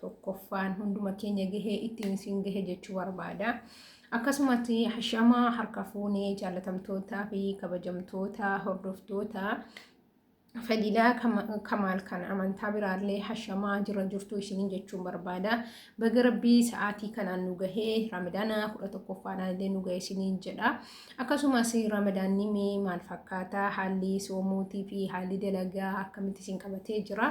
tokkoffaan hunduma keenya gahee ittiin isin gahe jechuu barbaada. Akkasumatti hashama harka fuunee jaalatamtootaa fi kabajamtoota hordoftoota fadilaa kamaal kan amantaa biraallee hashamaa jira jirtu isiniin jechuun barbaada. Baga rabbii sa'aatii kanaan nu gahee ramadaana kudha tokkoffaadhaan illee nu gahe isiniin jedha. Akkasumas ramadaanni mee maal fakkaata haalli soomuutii fi haalli dalagaa akkamitti isin qabatee jira.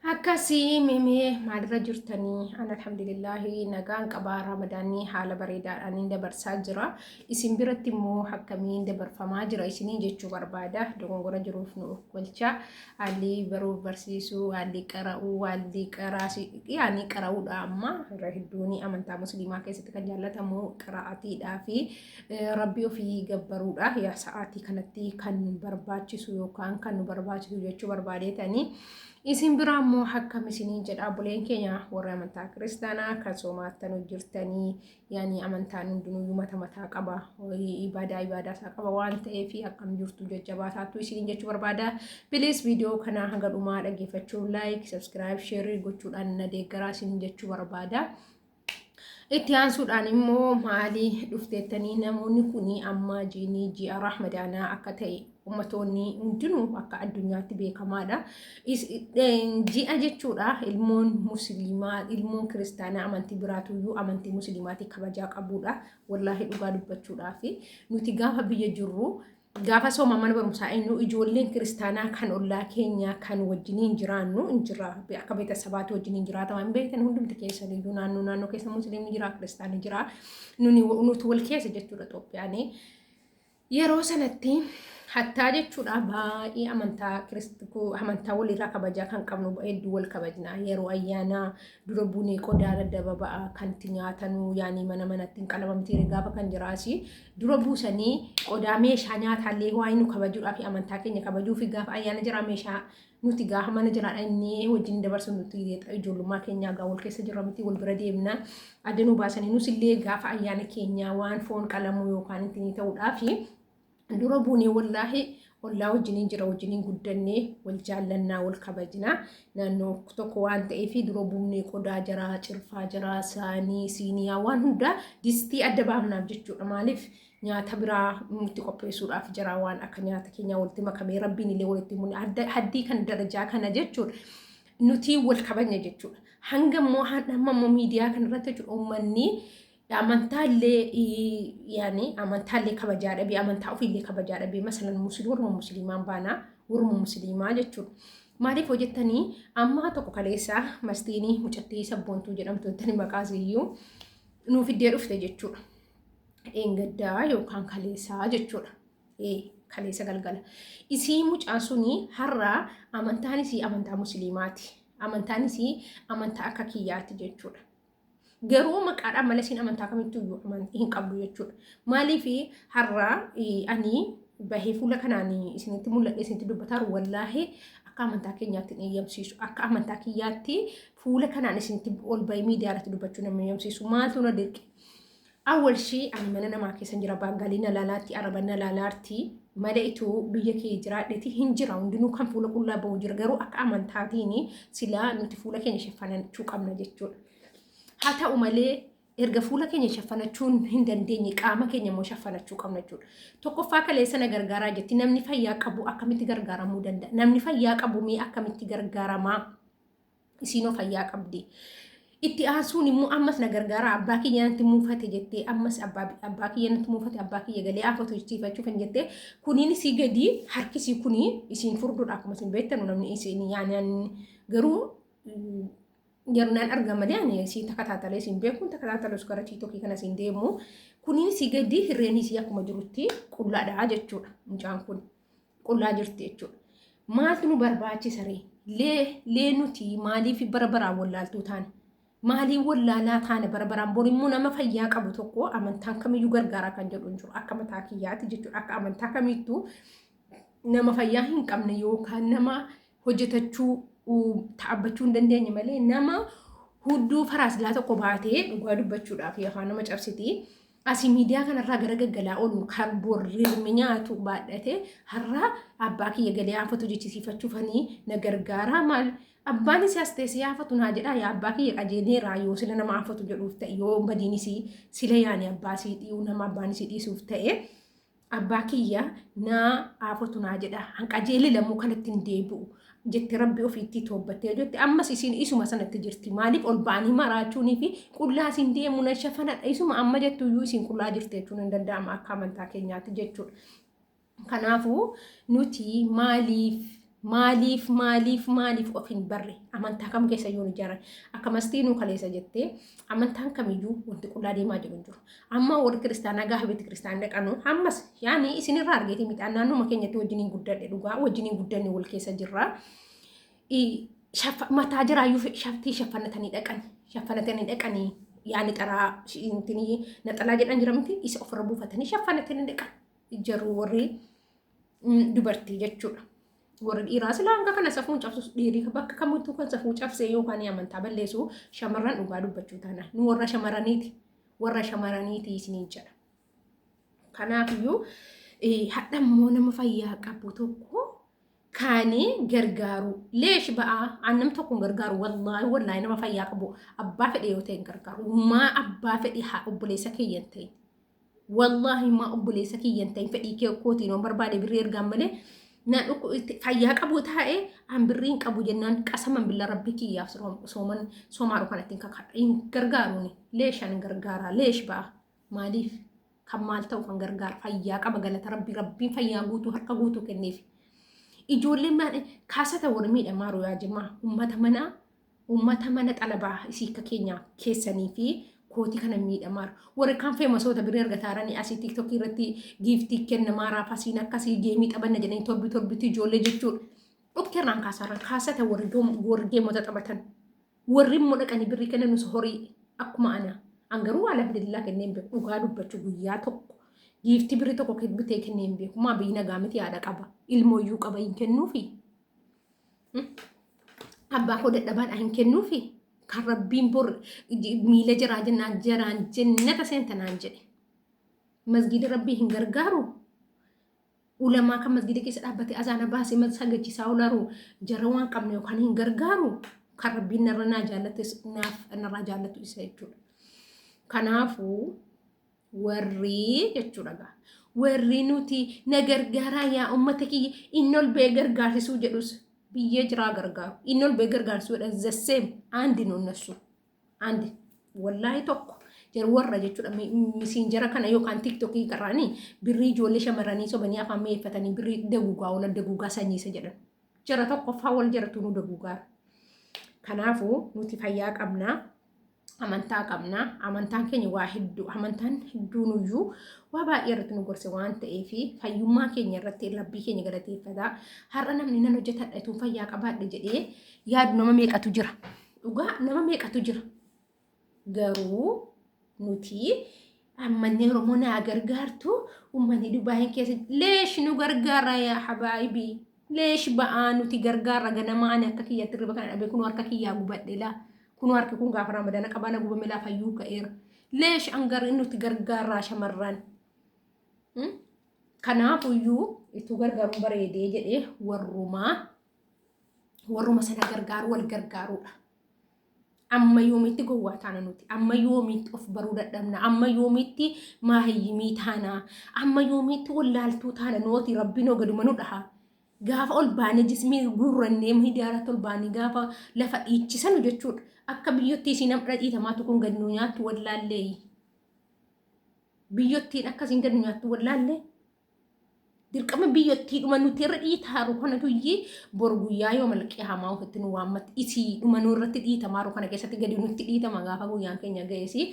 Akkasii mimee maalirra jirtanii? An alhamdulillaahi nagaan qabaa ramadaanii haala bareedaadhaan hin dabarsaa jira. Isin biratti immoo akkamiin dabarfamaa jira isinii jechuu barbaada. Dogongora jiruuf nu oolchaa. Haalli baruuf barsiisuu, haalli qara'uu, haalli qaraasi yaani qara'uudha amma irra hedduun amantaa musliimaa keessatti kan jaallatamu qara'atiidhaa fi rabbii ofii gabbaruudha. Yaa sa'aatii kanatti kan barbaachisu yookaan kan nu barbaachisu jechuu barbaadeetanii. Isin biraa immoo akkam isiniin jedha buleen keenya warri amantaa kiristaanaa akka soomaattanu jirtanii yaani amantaan hundinuu mata mataa qaba ibaadaa ibaadaa isaa qaba waan ta'eef akkam jirtu jajjabaasaattu isiniin jechuu barbaada. Bilis viidiyoo kana hanga dhumaa dhaggeeffachuu laayik, sabskiraayib, sheerii gochuudhaan na deeggaraa isiniin jechuu barbaada. Itti aansuudhaan immoo maalii dhufteettanii namoonni kun amma jiinii ji'a rahmadaanaa akka ta'e ummatoonni hundinuu akka addunyaatti beekamaadha. Ji'a jechuudha ilmoon musliimaa ilmoon kiristaanaa amantii biraatuyyuu amantii musliimaatii kabajaa qabuudha. Wallaahi dhugaa dubbachuudhaaf nuti gaafa biyya jirru Gaafa sooma mana barumsaa eenyu ijoolleen kiristaanaa kan ollaa keenyaa kan wajjiniin jiraannu hin jira. Akka beetasabaatti wajjiniin jiraatama hin beektan hundumti keessan iyyuu naannoo naannoo keessa musliimni jira kiristaanni jira. Nuni nuti wal keessa jechuudha Itoophiyaan. Yeroo sanatti hattaa jechuudha baay'ee amantaa kiristiku amantaa walirraa kabajaa kan qabnu hedduu wal kabajna. Yeroo ayyaanaa dura bunee qodaa daddababa'a kan itti nyaatanu yaanii mana manatti hin qalamamti gaafa kan jiraasi. dura buusanii qodaa meeshaa nyaataallee waa'ee nu kabajuudhaa fi amantaa keenya kabajuu fi gaafa ayyaana jiraa meeshaa nuti gaafa mana jiraadha inni wajjin dabarsu nuti ijoollummaa keenyaa gaa wal keessa jirra miti wal bira deemna adda nu baasanii nus illee gaafa ayyaana keenyaa waan foon qalamuu yookaan ittiin ta'uudhaa fi dura buunee wallaahi ollaa wajjiniin jira wajjiniin guddannee wal jaallannaa wal kabajnaa naannoo tokko waan ta'eef dura buunee qodaa jaraa cirfaa jaraa saanii siiniyaa waan hundaa distii adda baafnaaf jechuudha maaliif nyaata biraa nutti qopheessuudhaaf jaraa waan akka nyaata keenyaa walitti makamee rabbiin illee walitti mune haddii kan darajaa kana jechuudha nuti wal kabajna jechuudha hanga immoo hamma immoo miidiyaa kanarratti jechuudha uummanni amantaallee yaani amantaallee kabajaa dhabee amantaa ofiillee kabajaa dhabee masalan musliima warra musliimaan baanaa warra musliimaa jechuudha. Maaliif hojjettanii ammaa tokko kaleessaa mastiinii mucattii sabboontuu jedhamtu intani maqaas iyyuu nuuf iddee dhufte jechuudha. Dheengaddaa yookaan kaleessaa jechuudha. Kaleessa galgala. Isii mucaan suni har'a amantaan isii amantaa musliimaati. Amantaan isii amantaa akka kiyyaati jechuudha. Garuu maqaadhaan malee siin amantaa kamittuu iyyuu amantii hin qabdu jechuudha. Maaliif har'a ani bahee fuula kanaan isinitti mul'adhe isinitti dubbataa jiru wallaahi akka amantaa keenyaatti hin eeyyamsiisu. Akka amantaa kiyyaatti fuula kanaan isinitti ol bahee miidiyaa irratti dubbachuu nama eeyyamsiisu. Maaltu na dirqe? Awal shi ani mana namaa keessan jira baangalii na laalaatti araba na laalaarti male itu biyya kee jiraadheti hin jira hundinuu kan fuula qullaa ba'u jira garuu akka amantaatiin silaa nuti fuula keenya shaffanachuu qabna jechuudha. Haa ta'u malee erga fuula keenya shaffanachuun hin dandeenye qaama keenya immoo shaffanachuu qabna jechuudha. Tokkoffaa kaleessa na gargaaraa jetti namni fayyaa qabu akkamitti gargaaramuu danda'a? Namni fayyaa qabu mee akkamitti gargaaramaa? isiinoo fayyaa qabdi. Itti aansuun immoo ammas na gargaara abbaa kiyya natti muufate jettee ammas abbaa kiyya natti muufate abbaa kiyya galee afatu jechifachuu kan jettee kuniin isii gadii harkisii kunii isiin furduudha akkuma isin beektanu namni isiin yaanaan garuu jarnaan arga malee ani isiin takka taatalee isiin beekuun takka taatalee gara tiitokii kana isiin deemu kuniin isii gadii hirreen isii akkuma jirutti qullaadhaa jechuudha mucaan kun. qullaa jirti jechuudha. Maaltu nu barbaachisa ree? Lee lee nuti maaliif bara baraan wallaaltuu taane? Maaliin wallaalaa taane bara baraan bor immoo nama fayyaa qabu tokko amantaan kamiyyuu gargaaraa kan jedhu hin jiru. Akka mataa kiyyaati jechuudha. Akka amantaa kamiittuu nama fayyaa hin qabne yookaan nama hojjetachuu uu, dhaabbachuu hin dandeenye malee nama hudduu faraasilaa tokko baatee dhugaa dubbachuudhaaf afaan nama cabsiti. Asii miidiyaa kanarraa gara gaggalaa oolu kan borrirmi nyaatu baadhate har'aa abbaa kiyya galee haafatu jechisiifachuufanii na gargaaraa maal abbaan isii as teessee haafatu naa jedhaa yaa abbaa kiyya qajeeleeraa yoo sila nama haafatu jedhuuf ta'e yoo badiin isii sila yaani abbaa isii dhiyuu nama abbaan isii dhiisuuf ta'e Abbaa kiyya naa aafotu naa jedha an qajeele lammuu kanatti hin deebi'u jette rabbi ofiitti toobbattee jette ammas isiin isuma sanatti jirti maaliif ol ba'anii maraachuunii fi qullaa isiin deemu na shafanadha isuma amma jettu iyyuu isiin qullaa jirti jechuun hin danda'ama akka amantaa keenyaatti jechuudha. Kanaafuu nuti maaliif Maaliif maaliif maaliif of hin barre amantaa kam keessa yoo ijaaran akkamastii nuu kaleessa jettee amantaan kamiyyuu wanti qullaa deemaa jiru hin jiru. Amma warri kiristaanaa gaafa beeti kiristaanaa dhaqanu ammas yaani isinirraa argeetii midhaan naannuma keenyatti wajjin hin guddadhe dhugaa wajjin hin guddanne wal keessa jirra. Mataa jiraayyuu shaftii shaffanatanii dhaqan shaffanatanii dhaqanii yaani xaraa naxalaa jedhan jira miti isa ofirra buufatanii shaffanatanii dhaqan jaruu warri dubartii jechuudha. Warri dhiiraa silaa hanga kana safuu hin cabsus dhiirii bakka kamittuu kan safuu cabsee yookaan amantaa balleessu shamarran dhugaa dubbachuu taana. Nu warra shamarraniiti. Warra shamarraniiti isiniin jedha. Kanaafiyyuu hadha immoo nama fayyaa qabu tokko kaanii gargaaru leesh ba'aa annam tokko hin gargaaru wallaahi wallaahi nama fayyaa qabu abbaa fedhe yoo ta'e hin gargaaru maa abbaa fedhe haa obboleessa keeyyan ta'e Wallaahi maa obboleessa kiyya hin ta'in fedhii kee kootiin waan barbaade birrii ergaan malee na dhukku itti fayyaa qabu taa'e an birrii hin qabu jennaan qasaman billa rabbi kiyyaaf soom- sooman soomaaru kanatti hin kakadha hin gargaaruuni leeshan gargaaraa leesh ba'a maaliif kan maal ta'u kan gargaara fayyaa qaba galata rabbii rabbiin fayyaa guutuu harka guutuu kenneef ijoolleen maan kaasata warmiidha maaru yaa jimaa ummata manaa Ummata mana xalabaa isii akka keenyaa keessanii fi kooti kana miidhamaar. Warri kaan feemasoota birrii argataaranii asii tiktokii irratti giiftii kenna maaraa fasiin akkasii geemii taphanna jedhanii torbi torbitti ijoollee jechuudha. Dhukti irraan kaasaarraan kaasata warri doom- warri geemota taphatan. Warri immoo dhaqanii birrii kennanuus horii akkuma ana. An garuu alhamdulillah kennee hin beeku. Dhugaa dubbachuu guyyaa tokko. Giiftii birrii tokko bitee kennee hin beeku. Maa biyyi nagaa miti haadha qaba. Ilmooyyuu qaba hin kennuufi. Abbaa koo dadhabaan hin kennuufi kan rabbiin bor miila jiraa jennaan jaraan jennata seenta naan jedhe. Masgiida rabbii hin gargaaru. Ulamaa kan masgiida keessa dhaabbate azaana baasee mal sagachiisaa oolaru jara waan qabne yookaan hin gargaaru kan rabbiin narra naa jaallates naaf narraa jaallatu isa jechuudha. Kanaafuu Warrii jechuudha gaa. Warrii nuti na gargaaraa yaa uummata kiyya inni ol ba'ee gargaarsisuu jedhus biyyee jiraa gargaaru. Inni ol ba'ee gargaarsisuu jedhan the same aandi nu nassu. Aandi wallaahi tokko jara warra jechuudha mi- mi- misiinjara kana yookaan tiktokii karaanii birrii ijoollee shamarranii sobanii afaan mi'eeffatanii birrii daguugaa oola daguugaa sanyiisa jedhan. Jara tokkoffaa wal jaratu nu daguugaara. Kanaafuu nuti fayyaa qabnaa. amantaa qabna. Amantaan keenya waa hedduu, amantaan hedduun iyyuu waa baay'ee irratti nu gorse waan ta'eef fayyummaa keenya irratti rabbii keenya galateeffata. Har'a namni nan hojjetadha utuu fayyaa qabaadhe jedhee yaadu nama meeqatu jira. Dhugaa nama meeqatu jira. Garuu nuti Ammanni Oromoo naa gargaartu ummanni Dubaayin keessa leesh nu gargaara yaa habaayibi leesh ba'aa nuti gargaara ganama ani akka kiyyatti riba kana dhabe kunoo harka kiyyaa gubadhe laa kunoo harki kun gaafa ramadana qabana gubame laa fayyuu ka'eera leesh angar nuti gargaaraa shamarran kanaafuyyuu itti gargaaruun bareedee jedhee warrumaa warruma sana gargaaru wal gargaaruudha. Amma yoomitti gowwaa taana nuti? Amma yoomitti of baruu dadhabna? Amma yoomitti maahiyyimii taana? Amma yoomitti wallaaltuu taana nuti? Rabbiin hoo gaduma nu dhaha. Gaafa ol baanee jismii guurrannee miidiyaa irratti ol baanee gaafa lafa dhiichisanu jechuudha. Akka biyyootti isiin namdha dhiitamaatu kun gad nu nyaattu wallaallee. Biyyottiin akkasiin gad nu nyaattu wallaallee. dirqama biyyottii dhuma nuti irra dhiitaaru kana tuyyi bor guyyaa yoo malqee hamaa ofitti nu waammatti isii dhuma nu irratti dhiitamaaru kana keessatti gadi nutti dhiitama gaafa guyyaan keenya ga'eesi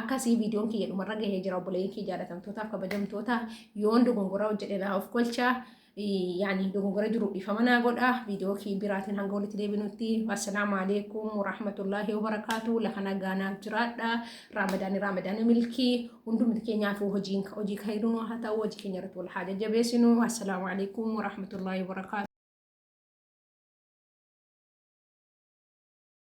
akkasii viidiyoon kiyya dhumarra gahee jira obboleeyyin kiyya jaalatamtootaaf kabajamtoota yoon dogongoraa hojjedhe naa of kolchaa yaani dogongora jiru dhiifama naa godha viidiyoo kii biraatiin hanga walitti deebinutti assalaamu alaikum warahmatullaahi wabarakaatu lafa nagaa naaf jiraadha raamadaani raamadaani milkii hundumti keenyaafuu hojiin hojii kayiruun waa haa ta'u hojii keenya irratti wal haa jajjabeessinu assalaamu alaikum warahmatullaahi wabarakaatu